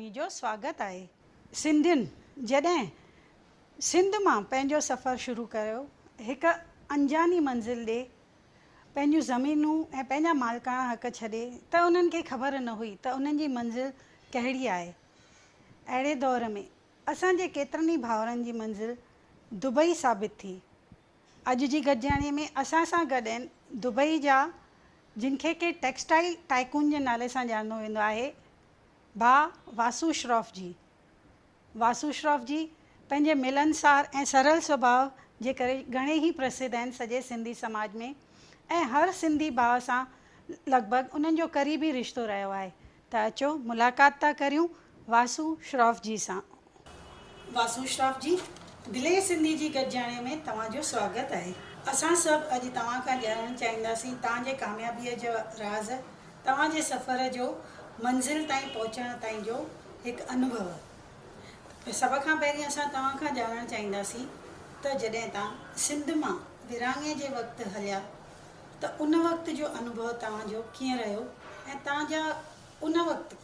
اوهين جو سواگت آهي. سنڌين جڏهن سنڌ مان پنهنجو سفر شروع ڪيو، هڪ انجاني منزل ڏي، پنهنجون زمينون ۽ پنهنجا مالڪاڻا حق ڇڏي ته انهن کي خبر نه هئي ته انهن جي منزل ڪهڙي آهي. اهڙي دور ۾ اسان جي ڪيترن ئي ڀائرن جي منزل دبئي ثابت ٿي. اڄ جي گڏجاڻي ۾ اسان سان گڏ آهن دبئي جا جن کي ڪي ٽيڪسٽائيل ٽائيڪون جي نالي سان ڄاڻندو ويندو آهي، ڀاء واسو شراف جي. واسو شراف جي پنهنجي ملنسار ۽ سرل سڀاء جي ڪري گهڻي ئي پرسڌ آهن سڄي سنڌي سماج ۾ ۽ هر سنڌي ڀاء سان لڳ ڀڳ انهن جو قريبي رشتو رهيو آهي ته اچو ملاقات ٿا ڪريون واسو شراف جي سان. واسو شراف جي دلي سنڌي جي گڏجاڻي ۾ توهان جو سواگت آهي. اسان سڀ اڄ توهان کان ڄاڻڻ چاهينداسين تان جي ڪاميابيء جا راز، توهان جي سفر جو منزل تائين پهچڻ تائين جو هڪ انوڀو. سڀ کان پهرين اسان توهان کان ڄاڻڻ چاهينداسين ته جڏهن توهان سنڌ مان ورهاڱي جي وقت هليا ته ان وقت جو انوڀو توهان جو ڪيئن رهيو ۽ توهان جا ان وقت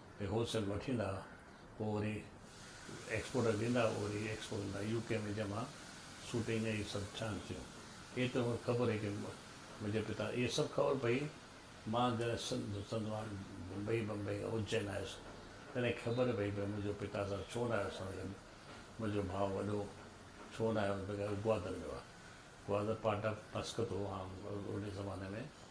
۾ هول سيل وٺي ايندا پوء وري ايڪسپورٽر ڏيندا هئا وري ايڪسپورٽ ڪندا يو ڪي ۾ جمع سوٽنگ ۽ سڀ ٿيڻ ٿيون اهي ته مونکي خبر هئي ڪي منهنجي پتا اهي سڀ خبر پئي مان جڏهن سنڌ سنڌ مان بمبئي بمبئي کان اجين آيس تڏهن خبر پئي ڪي منهنجو پتا سان ڇو نه آيو سان گڏ منهنجو ڀاء وڏو ڇو نه آيو بغير گوادر ويو آهي گوادر پارٽ آف مسقط هو عام اڙي زماني ۾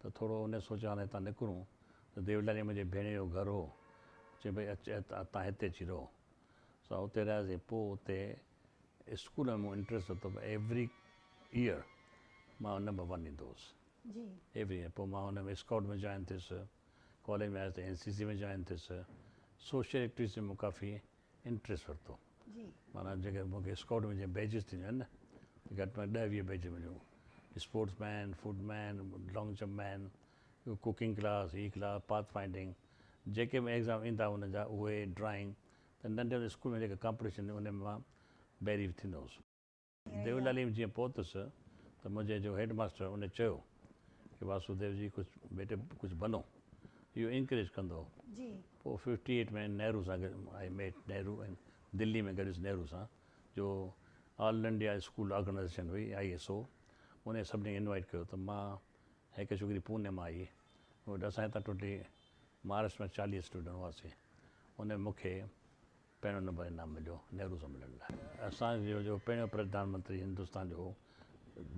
ته ٿورو انهيء سوچ آڏو هتان نڪرون ته ديولاليء منهنجي ڀيڻيء جو گهر هو. چيم ڀئي اچ ۽ تان هتي اچي رهو. سا اتي رهياسين. پوء اتي اسڪول ۾ مون انٽريسٽ ورتو ته ايوري ايئر مان نمبر ون ايندو هوس. Every year. پوء مان ان ۾ اسڪائوٽ ۾ جوائن ٿيس. ڪاليج ۾ آيس ته اين سي سي ۾ جوائن ٿيس. سوشل ايڪٽويٽيز ۾ مون ڪافي انٽريس ورتو معنيٰ جيڪي مون کي اسڪائوٽ ۾ جيئن بيجز ٿينديون آهن نه گهٽ ۾ گهٽ ڏهه ويهه بيجز مليون اسپورٽس مين فوڊ مين لانگ جمپ مين ڪوڪنگ ڪلاس هي ڪلاس پاٿ فائنڊنگ جيڪي به ايگزام ايندا هئا ان جا اهي ڊرائنگ ته ننڍي هوندي اسڪول ۾ جيڪي ڪامپٽيشن ان ۾ مان بيري ٿيندو هوس. ديولعليم جيئن پهتس ته منهنجي جو هيڊ ماستر ان چيو ڪي واسوديو جي ڪجهه بيٽي ڪجهه بنو اهو انڪريج ڪندو هو پوء ففٽي ايٽ ۾ نهرو سان گڏ آئي ميٽ نهرو ۽ دلي ۾ گڏيس نهرو سان جو آل انڊيا اسڪول آرگنائيزيشن هئي آئي ايس او انهي سڀني کي انوائيٽ ڪيو ته مان هڪ ڇوڪري پوني مان آئي اسان هتان ٽوٽلي مهاراشٽر مان چاليهه اسٽوڊنٽ هئاسين انهن مون کي پهريون نمبر انعام مليو نهرو سميلن لاء. اسان جو جو پهريون پرڌان منتري هندستان جو هو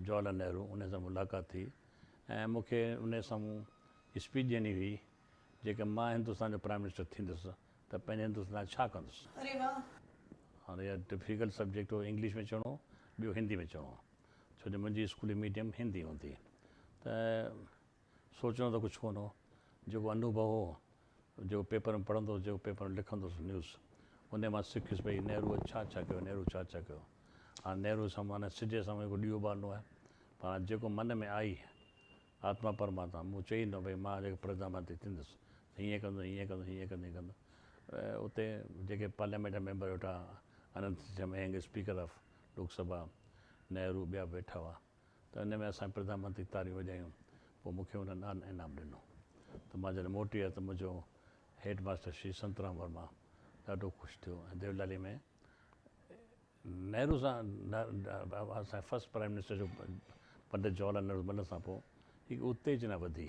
جواهر لال نهرو انهي سان ملاقات ٿي ۽ مون کي انهي سامهون اسپيچ ڏيڻي هئي جيڪا مان هندستان جو پرائيم منسٽر ٿيندس ته پنهنجي هندستان لاء ڇا ڪندس. اري واه. هاڻي اها ڊفيڪلٽ سبجيڪٽ هو انگلش ۾ چوڻو ٻيو هندي ۾ چوڻو ڇو جو منهنجي اسڪولي ميڊيم هندي هوندي ته. سوچڻو ته ڪجهه ڪونه هو. جيڪو انوڀو هو، جيڪو پيپر ۾ پڙهندو هوس، جيڪو پيپر ۾ لکندو هوس نيوز، انهيء مان سکيس ڀئي نهروء ڇا ڇا ڪيو، نهرو ڇا ڇا ڪيو. هاڻ نهروء سان مون هن سج جي سامهون هڪ ڏيئو ٻارڻو آهي. پر هاڻ جيڪو من ۾ آئي، آتما پرماتما مون چئي ڏنو ڀئي مان جيڪو پرڌانمنتري ٿيندس ته هيئن ڪندس، هيئن ڪندس، هيئن ڪندس، هيئن ڪندس. اتي جيڪي پارليامينٽ جا ميمبر ويٺا، اننت جمهينگ اسپيڪر آف لوڪ سڀا، نهرو ٻيا به ويٺا هئا. ته ان ۾ اسان پرڌان منتري تاريون وڄايون پوء مون کي انهن ڏانهن انعام ڏنو ته مان جڏهن موٽي آيو ته منهنجو هيڊ ماستر شري سنترام ورما ڏاڍو خوش ٿيو ۽ ديولالي ۾ نهرو سان اسان جي فرسٽ پرائيم منسٽر جو پنڊت جواهر لال نهرو بنهه سان پوء هڪ اتيجنا وڌي.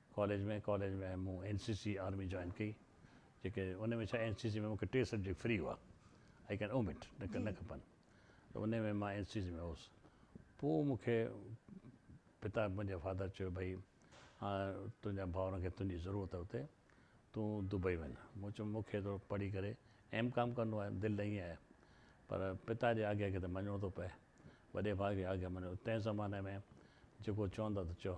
ڪاليج ۾ ڪاليج ۾ مون N C C army join ڪئي جيڪي ان ۾ ڇا اين سي سي ۾ مونکي ٽي سبجيڪٽ فري هئا آئي ڪين اومٽ نه کپن ته ان ۾ مان اين سي سي ۾ هوس پوء مونکي پتا منهنجا فادر چيو ڀئي هاڻ تنهنجا ڀاورن کي تنهنجي ضرورت آهي اتي تون دبئي وڃ مون چيو مونکي ته پڙهي ڪري ايم ڪام ڪرڻو آهي دل ته ائين آهي پر پتا جي آگيا کي ته مڃڻو ٿو پئي وڏي ڀاء کي آگيا مڃڻو تنهن زماني ۾ جيڪو چوندا ته چئو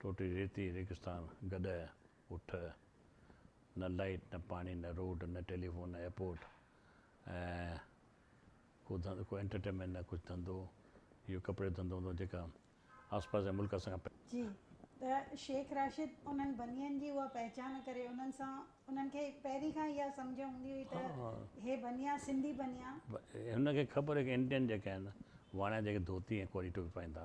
ٽوٽي ريتي ريگستان گڏهه اٺ نه لائيٽ نه پاڻي نه روڊ نه ٽيليفون نه ايئرپورٽ ۽ ڪو انٽرٽينمينٽ نه ڪجهه ڌنڌو اهو ڪپڙي ڌنڌو هوندو جيڪا آسپاس جا ملڪ اسان کان جي ته شيخ راشد انهن بنين جي اها پهچان ڪري انهن سان انهن کي پهرين کان اها سمجهه هوندي هئي ته هي بنيا سنڌي بنيا. هن کي خبر هئي ته انڊين جيڪا آهن واڻيا جيڪي ڌوتي ۽ ڪوري ٽوپي پائين ٿا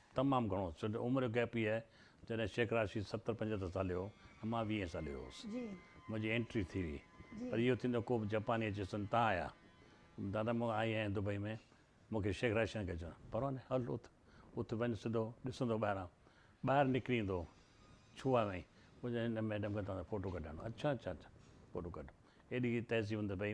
تمام گهڻو سو جو عمر جو گيپ هي آهي جڏهن شيخ راشد ستر پنجهتر سالي هو ۽ مان ويهين سالي هوس منهنجي انٽري ٿي هئي پر اهو ٿيندو ڪوبه جپاني اچي سن تان آيا دادا مون آئي آهيان دبئي ۾ مون کي شيخ راشد کي چيو پرواني هل اٿ اٿ وڃ سڌو ڏسندو ٻاهران ٻاهر نڪري ايندو ڇوها وئين منهنجي هن ميڊم کي توهان سان فوٽو ڪڍرائڻو اڇا اڇا اڇا فوٽو ڪڍ ايڏي تهذيب هوندي پئي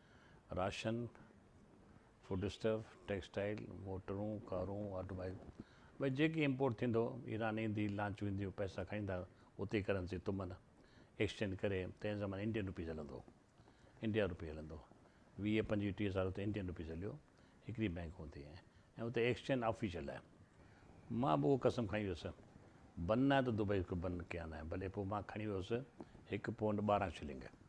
راشن، فوڊ اسٽف، ٽيڪسٽائيل، موٽرون، ڪارون، آٽو مائيل ڀئي جيڪي امپورٽ ٿيندو، ايران ايندي لانچ وينديون پئسا کائيندا اتي ڪرنسي تمن ايڪسچينج ڪري تنهن زماني انڊين روپيز هلندو هو انڊيا روپي هلندو ويهه پنجويهه ٽيهه سال اتي انڊين روپيز هليو هڪڙي بينڪ هوندي ۽ اتي ايڪسچينج آفيشل آهي مان به اهو قسم کائي ويس بن ناهي ته دبئي کي بن ڪيا ناهي ڀلي پوء مان کڻي ويس هڪ پونڊ ٻارهن شلنگ.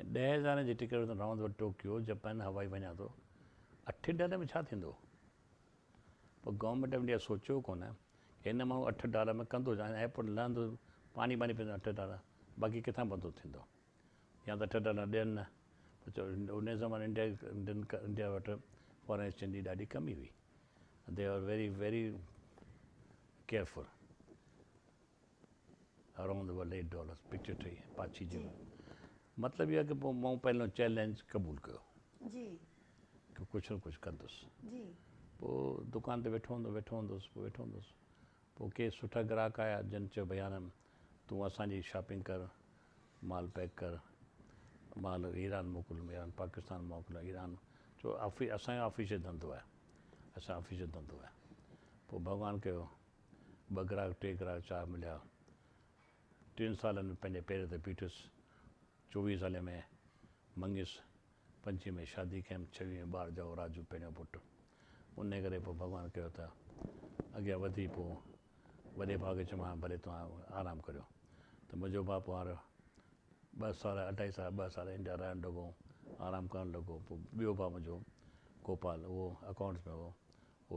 ۽ ڏهه هزارين جي ٽڪيٽ تان راند وٽ ٽوڪيو جپان هوائي وڃان ٿو اٺ ڊالر ۾ ڇا ٿيندو پوء گورنمينٽ آف انڊيا سوچيو ڪونه ڪي هن ماڻهو اٺ ڊالر ۾ ڪندو ڇا هن ايئرپورٽ لهندو پاڻي ٻاني پيندو اٺ ڊالر باقي ڪٿان بندو ٿيندو يا ته اٺ ڊالر ڏين نه پوء چو ان زماني انڊيا انڊين انڊيا وٽ فارن ايڪسچينج جي ڏاڍي ڪمي هئي they are very very careful around about eight dollars picture ٺهي پاڇي جي ويو مطلب اهو آهي ته پوء مون پنهنجو چئلينج قبول ڪيو جي ڪي ڪجهه نه ڪجهه ڪندس جي پوء دڪان تي ويٺو هوندو ويٺو هوندس پوء ويٺو هوندس پوء ڪي سٺا گراهڪ آيا جن چيو ڀيا نه تون اسان جي شاپنگ ڪر مال پيڪ ڪر مال ايران موڪل ايران پاڪستان موڪل ايران چو آفي اسان جو آفيشل ڌنڌو آهي اسان آفيشل ڌنڌو آهي پوء ڀڳوان ڪيو ٻه گراهڪ ٽي گراهڪ چار مليا ٽن سالن ۾ پنهنجي پير تي بيٺس چوويهين سالين ۾ مڱيس پنجين ۾ شادي ڪيم ڇويهين ۾ ٻار ڄائو راجو پهريون پٽ انهي ڪري پوء ڀڳوان ڪيو ته اڳيان وڌي پوء وڏي ڀاء کي چيم ها ڀلي توهان آرام ڪريو ته منهنجو ڀاء پوء هر ٻه سال اڍائي سال ٻه سال انڊيا رهڻ لڳو آرام ڪرڻ لڳو پوء ٻيو ڀاء منهنجو گوپال اهو اڪائونٽس ۾ هو اهو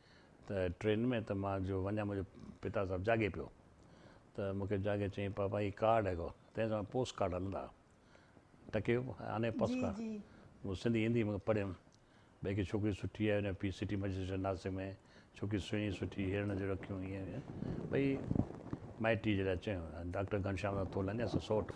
ته ٽرين ۾ ته مان جو وڃان منهنجو پتا صاحب جاڳي پيو ته مون کي جاڳي چيائين پاپا هي ڪارڊ هي ڪو تنهن زمان پوسٽ ڪارڊ هلندا ها ٽڪي آني پوسٽ جي ڪارڊ جي مون سنڌي هندي ۾ پڙهيم ڀئي ڪي ڇوڪري سٺي آهي هن پي سٽي مئجسٽريٽ ناسڪ ۾ ڇوڪري سهڻي سٺي هرڻ جهڙو اکيون هيئن هيئن ڀئي مائٽي جي لاء چيو ڊاڪٽر گهنشام سان ٿو لنگهيس سوٽ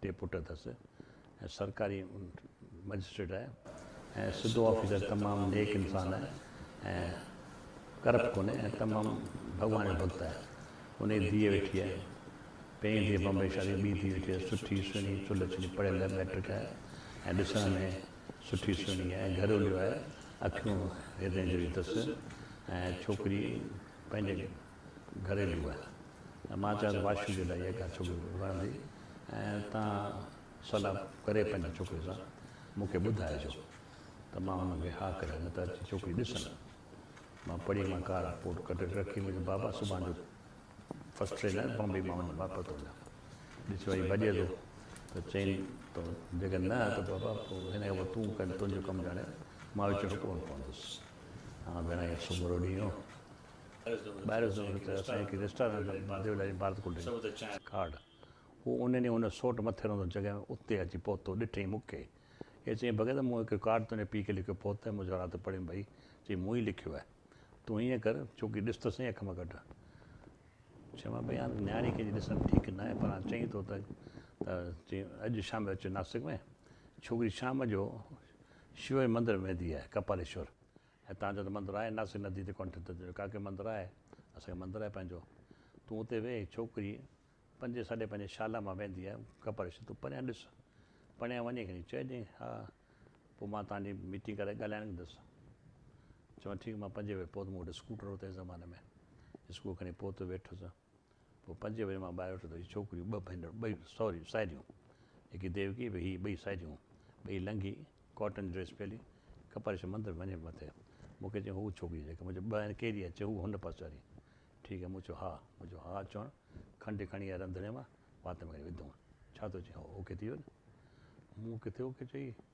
ٽي پٽ اٿس ۽ سرڪاري مئجسٽريٽ آهي ۽ سڌو آفيسر تمام نيڪ انسان آهي ۽ ڪرپٽ ڪونهي ۽ تمام ڀڳوان جو ڀڳت آهي انهي ڌيء ويٺي آهي پهرين ڌيء بمبئي شادي ٻي ڌيء ويٺي آهي سٺي سهڻي چلهه چلي پڙهيل مئٽرڪ آهي ۽ ڏسڻ ۾ سٺي سهڻي آهي ۽ گهروليو آهي اکيون هيرن جهڙيون اٿس ۽ ڇوڪري پنهنجي گهريلو آهي ۽ مان چاهيان ته واشو جي لاء اها ڳالهه ڇوڪري کي وڻندي ۽ تان صلاح ڪري پنهنجي ڇوڪري سان مون کي ٻڌائجو ته مان ان کي ها ڪريان نه ته اچي ڇوڪري ڏسن مان پڙهي مان ڪار رپورٽ ڪڍي رکي منهنجي بابا صبح جو فرسٽ ٽرين آهي بامبي مان وڃان واپس ٿو وڃان ڏسيو ائين ڀڄي ٿو ته چين تو جيڪڏهن نه ته بابا پوء هن کي تون ڪن تنهنجو ڪم ڄاڻي مان وچ ۾ ڪونه پوندس ها ڀيڻ ائين سمورو ڏينهن ٻاهر ويندو ته اسان هڪ ريسٽارنٽ ۾ ديو لاري بارت ڪڍي چانهه کاڙ. هو ان ڏينهن ان سوٽ مٿي رهندڙ جڳهه اتي اچي پهتو، ڏٺئي مون کي ۽ چيائين ڀڳت مون هڪ ڪارڊ تنهنجي پيء کي لکيو پهتائين مون ذرا ته پڙهيم ڀئي، چيائين مون ئي لکيو آهي تون هيئن ڪر ڇوڪري ڏس ته سهي اک مان ڪڍ. چيومانس ڀئي هاڻ نياڻي ڪنهن جي ڏسڻ ٺيڪ ناهي پر هاڻ چئين ٿو ته ته چيائين اڄ شام جو اچ ناسڪ ۾ ڇوڪري شام جو شيو جي مندر ۾ ويندي آهي ڪپاليشور هتان جو ته مندر آهي، ناسي ندي تي ڪنٺ ته چيو، ڪاڪي مندر آهي، اسان کي مندر آهي پنهنجو، تون اتي ويهه. ڇوڪري پنجين ساڍي پنجين شالا مان ويندي آهي، ڪپر ڇڏ، تون پريان ڏس، پڻيان وڃي کڻي چئجانء ها، پوء مان توهان جي ميٽنگ ڪرائي ڳالهائڻ ايندس. چيو، ٺيڪ، مان پنجين ويهه پوت، مون وٽ اسڪوٽر هو تنهن زماني ۾، اسڪوٽر کڻي پوت ويٺس. پوء پنجين بجي مان ٻاهر اٿيو ته هي ڇوڪريون ٻه ڀينرون، ٻئي سوري ساهيڙيون، جيڪي ديوڪي به هي ٻئي ساهيڙيون، ٻئي لنگهي، ڪاٽن جي ڊريس پيلي، ڪپرش مندر ۾ وڃي مٿي مون کي چيائون، هوء ڇوڪري جيڪا مون چيو ٻه آهن ڪهڙي آهي؟ چيو هوء هن پاسي واري ٺيڪ آهي، مون چيو ها، مون چيو ها چوڻ کنڊ کڻي آيا رنڌڻي مان وات ۾ کڻي وڌئون، ڇا ٿو چئين هو اوڪي ٿي ويو نه؟ مون ڪٿي اوڪي چئي.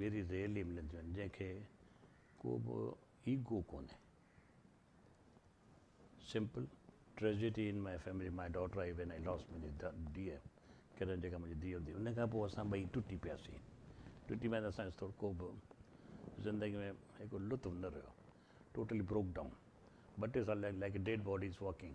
ويري ريئلي ملنديون آهن جنهن کي ڪو به ايگو ڪونهي simple tragedy in my family my daughter I when I lost my dear Karan جيڪا منهنجي ڌيء هوندي ان کان پوء اسان ٻئي ٽٽي پياسين ٽٽي ماء اسان ٿورو ڪو به زندگي ۾ هڪ لطف نه رهيو ٽوٽلي بروڪ ڊائون ٻه ٽي سال لائڪ ڊيڊ باڊيز واڪنگ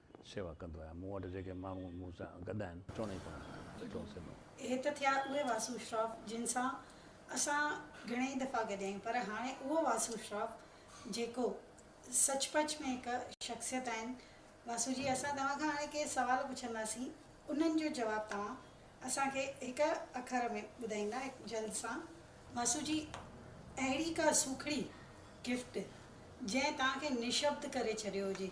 سيوا ڪندو آهيان. مون وٽ جيڪي ماڻهو مون سان گڏ آهن، چوڻ ئي ڪونه ڏيندا. سٺو سنئون. هي ته ٿيا اهي واسو اشراف جن سان اسان گهڻيئي دفعا گڏ آهيون پر هاڻي اهو واسو اشراف جيڪو سچ پچ ۾ هڪ شخصيت آهن. واسو جي اسان توهان کان هاڻي ڪي سوال پڇنداسين انهن جو جواب توهان اسان کي هڪ اکر ۾ ٻڌائيندا جلد سان. واسو جي اهڙي ڪا سوکڙي گفٽ جنهن توهان کي نشبد ڪري ڇڏيو هجي.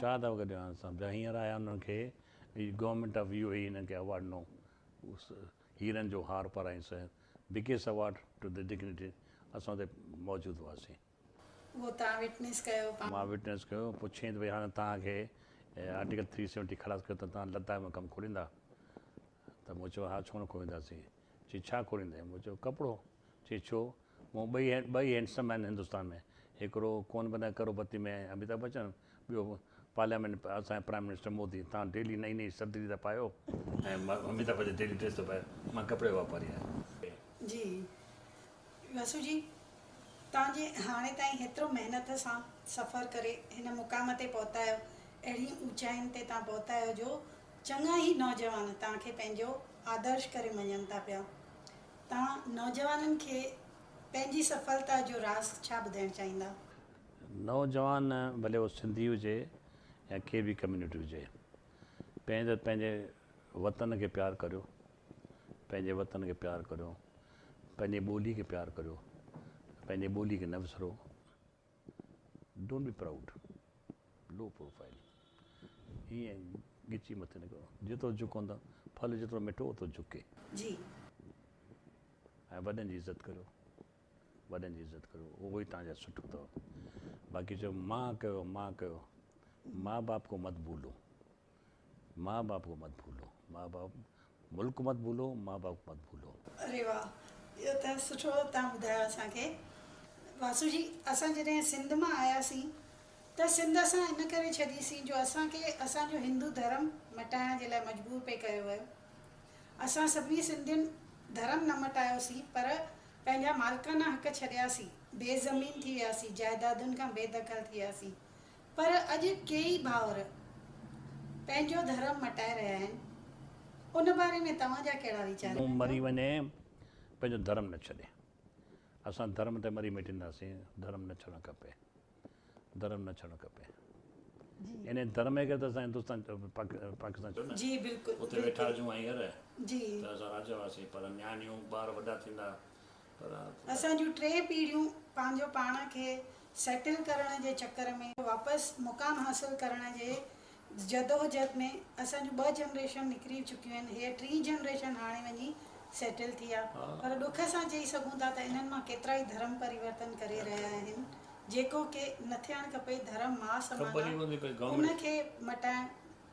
ڇا ٿا وگهه ڏيو صاحب جا هينئر آيا انهن کي government of U A E انهن کي اوارڊ ڏنو هيرن جو هار پارائين سو بڪيس اوارڊ ٽو دي ڊگنيٽي اسان اتي موجود هئاسين. اهو توهان وٽنيس ڪيو. مان وٽنيس ڪيو پڇين ته ڀئي هاڻي توهان کي آرٽيڪل ٿري سيونٽي خلاص ڪيو ته توهان لداخ ۾ ڪم کوليندا ته مون چيو ها ڇو نه کولينداسين چي ڇا کوليندين مون چيو ڪپڙو چي ڇو مون ٻئي ٻئي هينڊسم آهن هندستان ۾، هڪڙو ڪون بنا ڪروڙ پتي ۾ اميتاڀ بچن ٻيو پارليامينٽ ۾ اسان جا پرائيم منسٽر مودي تان ڊيلي نئين نئين سردري ٿا پايو ۽ اميتاڀ بچن ڊيلي ڊريس ٿو پايو مان ڪپڙي جو واپاري آهيان. جي وسو جي توهان جي هاڻي تائين هيترو محنت سان سفر ڪري هن مقام تي پهتا آهيو اهڙين اوچائين تي توهان پهتا آهيو جو چڱا ئي نوجوان توهان کي پنهنجو آدرش ڪري مڃن ٿا پيا توهان نوجوانن کي پنهنجي سڦلتا جو راز ڇا ٻڌائڻ چاهيندا؟ نوجوان ڀلي اهو سنڌي هجي يا ڪي به ڪميونٽي هجي پهرين ته پنهنجي وطن کي پيار ڪريو پنهنجي وطن کي پيار ڪريو پنهنجي ٻولي کي پيار ڪريو پنهنجي ٻولي کي نه وسرو don't be proud low profile ايئن ڳچي مٿي نه ڪرو جيترو جهڪوندا ڦل جيترو مٺو اوترو جهڪي جي. ۽ وڏن جي عزت ڪريو وڏن جي عزت ڪريو اهو ئي تهان جا سٺو اٿو باقي چئو مان ڪيو مان ڪيو ماء باپ ڪو مت ڀولو. ماء باپ ڪو مت ڀولو. ماء باپ ملڪ مت ڀولو ماء باپ ڪو مت ڀولو. اري واھ اھو ته سٺو تھان ٻڌايو اسان کي واسو جي اسان جڏھن سنڌ مان آياسين ته سنڌ اسان ان ڪري ڇڏي سين جو اسان کي اسان جو ھندو ڌرم مٽائڻ جي لاء مجبور پئي ڪيو ويو اسان سڀني سنڌين ڌرم نه مٽايو سين پر پنھنجا مالڪانا حق ڇڏيا سين بي زمين ٿي ويا سين جائدادن کان بي دخل ٿي ويا سين پر اڄ ڪيئي ڀائر پنهنجو ڌرم مٽائي رهيا آهن ان باري ۾ توهان جا ڪهڙا ويچار آهن؟ مون مري وڃي پنهنجو ڌرم نه ڇڏي. اسان ڌرم تي مري مٽينداسين ڌرم نه ڇڏڻ کپي ڌرم نه ڇڏڻ کپي يعني ڌرم هي ڪري ته اسان هندوستان پاڪستان ڇڏيو نه اتي ويٺا هجون هينئر ته اسان راجا هئاسين پر نياڻيون ٻار وڏا ٿيندا اسان جون ٽي پيڙهيون پنهنجو پاڻ کي سيٽل ڪرڻ جي چڪر ۾ واپس مقام حاصل ڪرڻ جي جدوجھد ۾ اسان جون ٻه جنريشن نڪري چڪيون آهن هيء ٽين جنريشن هاڻي وڃي سيٽل ٿي آ پر ڏک سان چئي سگهون ٿا ته انهن مان ڪيترائي ڌرم پريورتن ڪري رهيا آهن جيڪو ڪي نه ٿيڻ کپي ڌرم مان سمانا ان کي مٽائڻ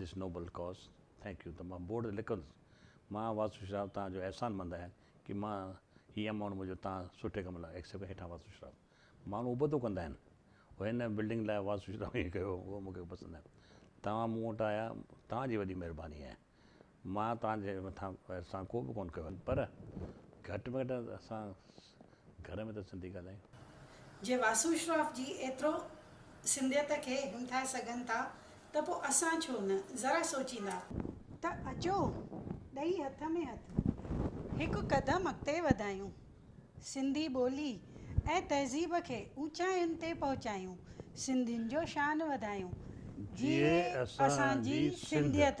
دس نوبل ڪاز ٿينڪ يو ته مان بورڊ تي لکندس مان واسو شراف توهان جو احسان مند آهيان ڪي مان هي امائونٽ منهنجو توهان سٺي ڪم لاء ايڪسيپٽ هيٺان واسو شراف ماڻهو ابتو ڪندا آهن هو هن بلڊنگ لاء واسو شراف ائين ڪيو هو مون کي پسند آهي توهان مون وٽ آيا توهان جي وڏي مهرباني آهي مان توهان جي مٿان احسان ڪو به ڪونه ڪيو آهي پر گهٽ ۾ گهٽ اسان گهر ۾ ته سنڌي ڳالهايون. جي واسو اشراف جي ايترو سنڌيت کي همٿائي سگهن ٿا ته پوء اسان ڇو نه ذرا سوچيندا. ته اچو ڏئي هٿ ۾ هٿ هڪ قدم اڳتي وڌايون، سنڌي ٻولي ۽ تهذيب کي اوچاين تي پهچايون، سنڌين جو شان وڌايون. جيئي اسان جي سنڌيت.